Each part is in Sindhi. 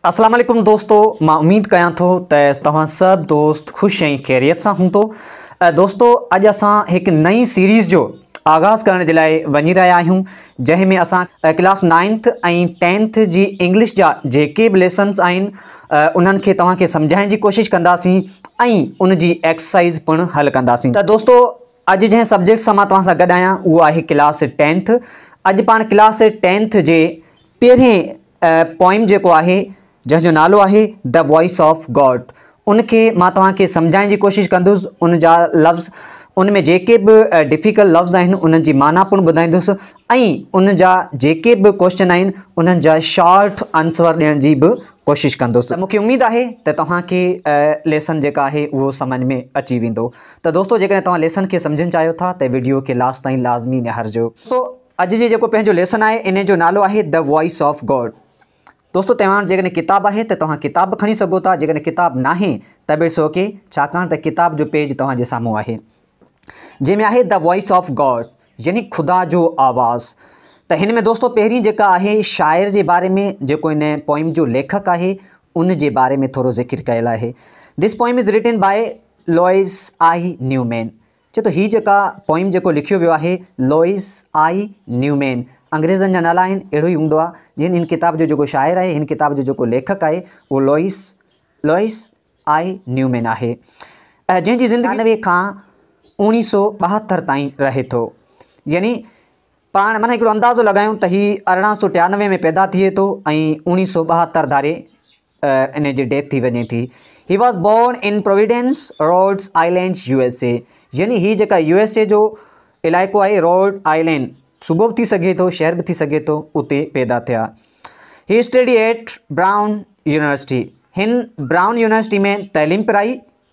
اسلام عليڪم دوستو مان اميد ڪيان ٿو ته توهان سڀ دوست خوش ۽ خيريت سان هوندو دوستو اڄ اسان هڪ نئين سيريز جو آغاز ڪرڻ جي لاء وڃي رهيا آهيون جنهن ۾ اسان ڪلاس نائنٿ ۽ ٽينٿ جي انگلش جا جيڪي به ليسنس آهن انهن کي توهان کي سمجهائڻ جي ڪوشش ڪنداسين ۽ ان جي ايڪسرسائز پڻ حل ڪنداسين ته دوستو اڄ جنهن سبجيڪٽ سان مان توهان سان گڏ آهيان اهو آهي ڪلاس ٽينٿ اڄ پاڻ ڪلاس ٽينٿ جي پهرين پوئم جيڪو آهي جنهن جو نالو آهي The Voice of God ان کي مان توهان کي سمجهائڻ جي ڪوشش ڪندس ان جا لفظ ان ۾ جيڪي به ڊفيڪلٽ لفظ آهن انهن جي معنيٰ پڻ ٻڌائيندس ۽ ان جا جيڪي به ڪوشچن آهن انهن جا شارٽ آنسر ڏيڻ جي به ڪوشش ڪندس مونکي اميد آهي ته توهان کي ليسن جيڪا آهي اهو سمجھ ۾ اچي ويندو ته دوستو جيڪڏهن توهان ليسن کي سمجھڻ چاهيو ٿا ته ويڊيو کي لاسٽ تائين لازمي نهارجو اڄ جي جيڪو پنهنجو ليسن آهي انهي جو نالو آهي The Voice of God. دوستو توهان وٽ جيڪڏهن ڪتاب آهي ته توهان ڪتاب به کڻي سگهو ٿا جيڪڏهن ڪتاب ناهي ته به اٽس اوڪي ڇاڪاڻ ته ڪتاب جو پيج توهان جي سامهون آهي جنهن ۾ آهي The Voice of God يعني خدا جو آواز ته هن ۾ دوستو پهرين جيڪا آهي شاعر جي باري ۾ جيڪو هن پوئم جو ليکڪ آهي ان جي باري ۾ ٿورو ذڪر ڪيل آهي this poem is written by Louis I Newman چي ٿو هي جيڪا پوئم جيڪو لکيو ويو آهي لوئيس آء نيومين انگريزن جا نالا آهن اهڙو ئي هوندو آهي جن هن ڪتاب جو جيڪو شاعر آهي هن ڪتاب جو جيڪو ليکڪ آهي اهو لوئيس لوئيس آء نيومين آهي جنهن جي زندگي نوي کان اوڻيهه سو ٻاهتر تائين رهي ٿو يعني پاڻ من هڪڙو اندازو لڳايون ته هي ارڙهن سو ٽيانوي ۾ پيدا ٿئي ٿو ۽ اوڻيهه سو ٻاهتر ڌاري انهي جي ڊيٿ ٿي وڃي ٿي. He was born in Providence, Rhode Island, U S A. يعني هي جيڪا يو ايس اي جو علائقو آهي روڊ آئلينڊ، صوبو به ٿي سگهي ٿو شهر به ٿي سگهي ٿو، اتي پيدا ٿيا. He study at Brown University. هن براون يونيورسٽي ۾ تعليم پرائي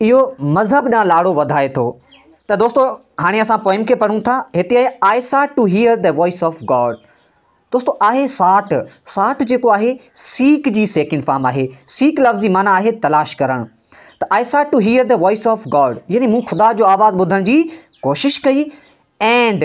اهو مذهب ڏانهن لاڙو وڌائي ٿو. ته دوستو هاڻي اسان پوئم کي پڙهون ٿا. هتي آهي I sought to hear the voice of God. دوستو آهي ساٽ، ساٽ جيڪو آهي سيڪ جي سيڪنڊ فارم آهي. سيڪ لفظ جي معنيٰ آهي تلاش ڪرڻ. ته I sought to hear the voice of God يعني مون خدا جو آواز ٻڌڻ جي ڪوشش ڪئي. اينڊ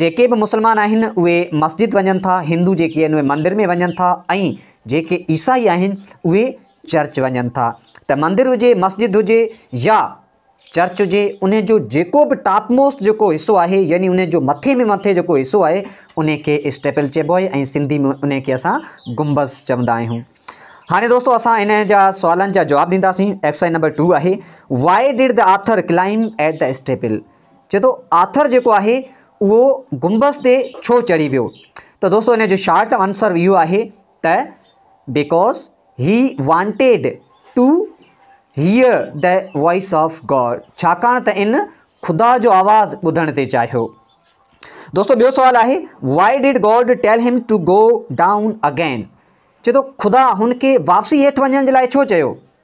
جيڪي به مسلمان آهن اهي مسجد وڃن ٿا، هندو جيڪي آهن اهي مندر ۾ وڃن ٿا ۽ جيڪي عيسائي آهن اهي چرچ وڃن ٿا ته مندر هجي مسجد هجي يا چرچ هجي ان جو جيڪو به ٽاپ موسٽ جيڪو حصو آهي يعني ان جو مٿي ۾ مٿي جيڪو حصو آهي ان کي اسٽيپل چئبو آهي ۽ سنڌي ۾ ان کي اسان گنبذ چوندا آهيون هاڻي دوستو اسان ان جا سوالن جا جواب ڏينداسين ايڪسرسائز نمبر ٽو آهي why did the author claim at the staple چئي ٿو آٿر جيڪو آهي اهو گنبذ تي ڇو چڙهي ويو ته دوستو ان جو شارٽ آنسر اهو آهي ته because he wanted to hear the voice of God ڇاڪاڻ ته ان خدا جو آواز ٻڌڻ تي چاهيو دوستو ٻيو سوال آهي why did God tell him to go down again چئي ٿو خدا هن کي واپسي هيٺ وڃڻ جي لاء ڇو چيو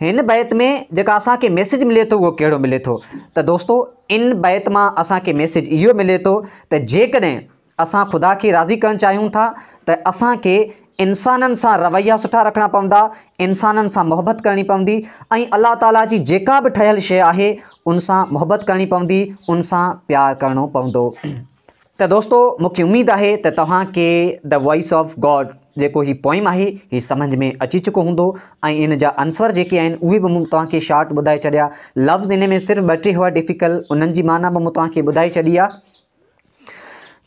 هن بيت ۾ جيڪا اسان کي ميسيج ملي ٿو اهو ڪهڙو ملي ٿو ته دوستو ان بيت مان اسان کي ميسيج اهو ملي ٿو ته جيڪڏهن اسان خدا کي راضي ڪرڻ چاهيون ٿا ته اسان کي انسانن سان رويا سٺا رکڻا پوندا انسانن سان محبت ڪرڻي پوندي ۽ الله تعاليٰ جي جيڪا به ٺهيل شيء آهي ان سان محبت ڪرڻي پوندي ان سان پيار ڪرڻو پوندو ته دوستو مون کي اميد آهي ته توهان کي The Voice of God جيڪو هي پوئم آهي هي سمجھ ۾ اچي چڪو هوندو ۽ ان جا عنصر جيڪي آهن اهي به مون توهان کي شارٽ ٻڌائي ڇڏيا لفظ ان ۾ صرف ٻه ٽي هئا ڊفيڪل انهن جي معنيٰ به مون توهان کي ٻڌائي ڇڏي آهي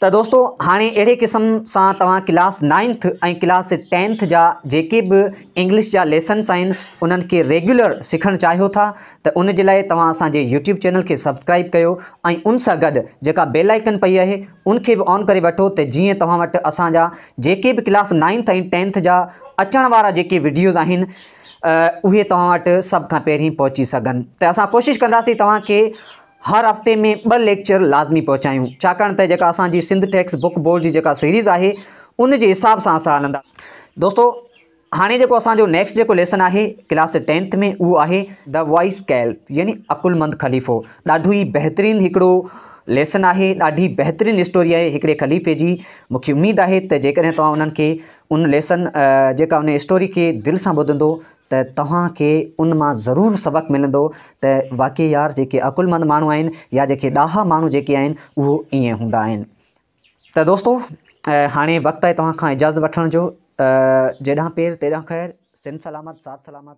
ته دوستو هاڻي اهڙي قسم سان توهان ڪلاس نائنٿ ۽ ڪلاس ٽينٿ جا جيڪي به انگلش جا ليسنس آهن انهن کي ريگيولر سکڻ چاهيو ٿا ته ان جي لاء توهان اسان جي يوٽيوب چينل کي سبسڪرائيب ڪيو ۽ ان سان گڏ جيڪا بيل آئيڪن پئي آهي ان کي به آن ڪري وٺو ته جيئن توهان وٽ اسان جا جيڪي به ڪلاس نائنٿ ۽ ٽينٿ جا اچڻ وارا جيڪي وڊيوز آهن اهي توهان وٽ سڀ کان پهرين پهچي سگهن ته اسان ڪوشش ڪنداسين توهان کي هر هفتي ۾ ٻه ليڪچر لازمي پهچايون ڇاڪاڻ ته جيڪا اسان جي سنڌ ٽيڪس بڪ بورڊ جي جيڪا سيريز آهي ان جي حساب سان اسان هلندا دوستو هاڻي جيڪو اسان جو نيڪسٽ جيڪو ليسن آهي ڪلاس ٽينٿ ۾ اهو آهي دا وائس ڪيل يعني عقلمند خليفو ڏاڍو ئي بهترين هڪڙو ليسن آهي ڏاڍي بهترين اسٽوري آهي هڪڙي خليفي جي مونکي اميد آهي ته جيڪڏهن توهان انهن کي ان ليسن جيڪا ان اسٽوري کي دل سان ٻڌندو ته توهان کي ان مان ضرور سبق ملندو ته واقعي يار جيڪي عقلمند ماڻهو آهن يا جيڪي ڏاها ماڻهو جيڪي آهن اهو ائين هوندا آهن ته دوستو هاڻي وقت آهي توهان کان اجازت وٺڻ جو جيڏانهن پير تيڏانهن خير سنڌ سلامت ساٿ سلامت